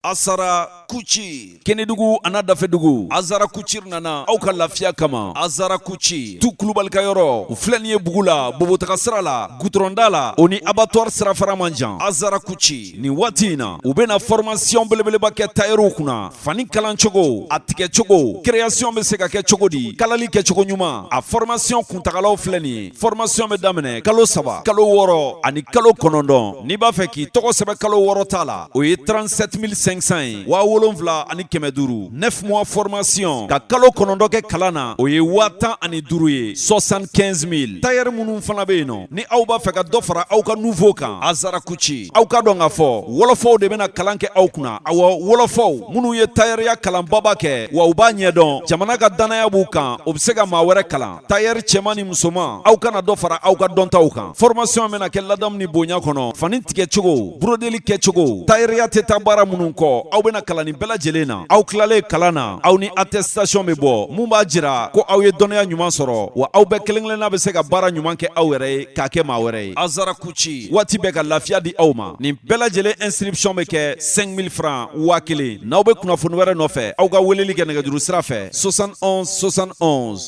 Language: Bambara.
Azara couture Kenedugu an'a dafɛdugu Azara couture nana aw ka lafiya kama Azara couture Tu Kulubali ka yɔrɔ filɛ nin ye Bugula Bobo taga sira la gutɔrɔn da la o ni abattoir sirafara man jan Azara couture nin waati in na u bɛna fɔrmasiyɔn belebeleba kɛ tayɛriw kunna fani kalancogo a tigɛcogo kireyasiyɔn bɛ se ka kɛ cogo di kalali kɛcogo ɲuman a fɔrmasiyɔn kuntagalaw filɛ nin ye fɔrɔmasiɔn bɛ daminɛ kalo saba kalo wɔɔrɔ ani kalo kɔnɔntɔn n'i b'a fɛ k'i tɔgɔ sɛbɛn kalo wɔɔrɔ ta la o ye 37500 ye waa wolonwula ani kɛmɛ duuru 9 mois fɔrɔmasiyɔn ka kalo kɔnɔntɔn kɛ kalan na o ye waa tan ani duuru ye 75000 tayɛri minnu fana bɛ yen nɔ ni aw b'a fɛ ka dɔ fara aw ka niveau kan Azara couture aw k'a dɔn k'a fɔ wɔlɔfɔw de bɛna kalan kɛ aw kunna awa wɔlɔfɔw minnu ye tayɛriya kalanbaba kɛ wa u b'a ɲɛdɔn jamana ka dannaya b'u kan o bɛ se ka maa wɛrɛ kalan tayɛri cɛman ni musoman aw ka na dɔ fara aw ka dɔntaw kan fɔrɔmasiɔn bɛna kɛ ladamu ni bonya kɔnɔ fani tigɛcogo burodeli kɛcogo tayɛriya tɛ taa baara minnu kɔ aw bɛna kalan nin bɛɛ lajɛlen na aw tilalen kalan na aw ni atɛsitasiyɔn bɛ bɔ mun b'a jira ko aw ye dɔnniya ɲuman sɔrɔ wa aw bɛɛ kelen kelenna bɛ se ka baara ɲuman kɛ aw yɛrɛ ye k'a kɛ maa wɛrɛ ye Azara couture waati bɛɛ ka lafiya di aw ma nin bɛɛ lajɛlen inscription bɛ kɛ 5000 francs waa kelen n'aw bɛ kunnafoni wɛrɛ nɔfɛ aw ka weleli kɛ nɛgɛjuru sira fɛ 71 71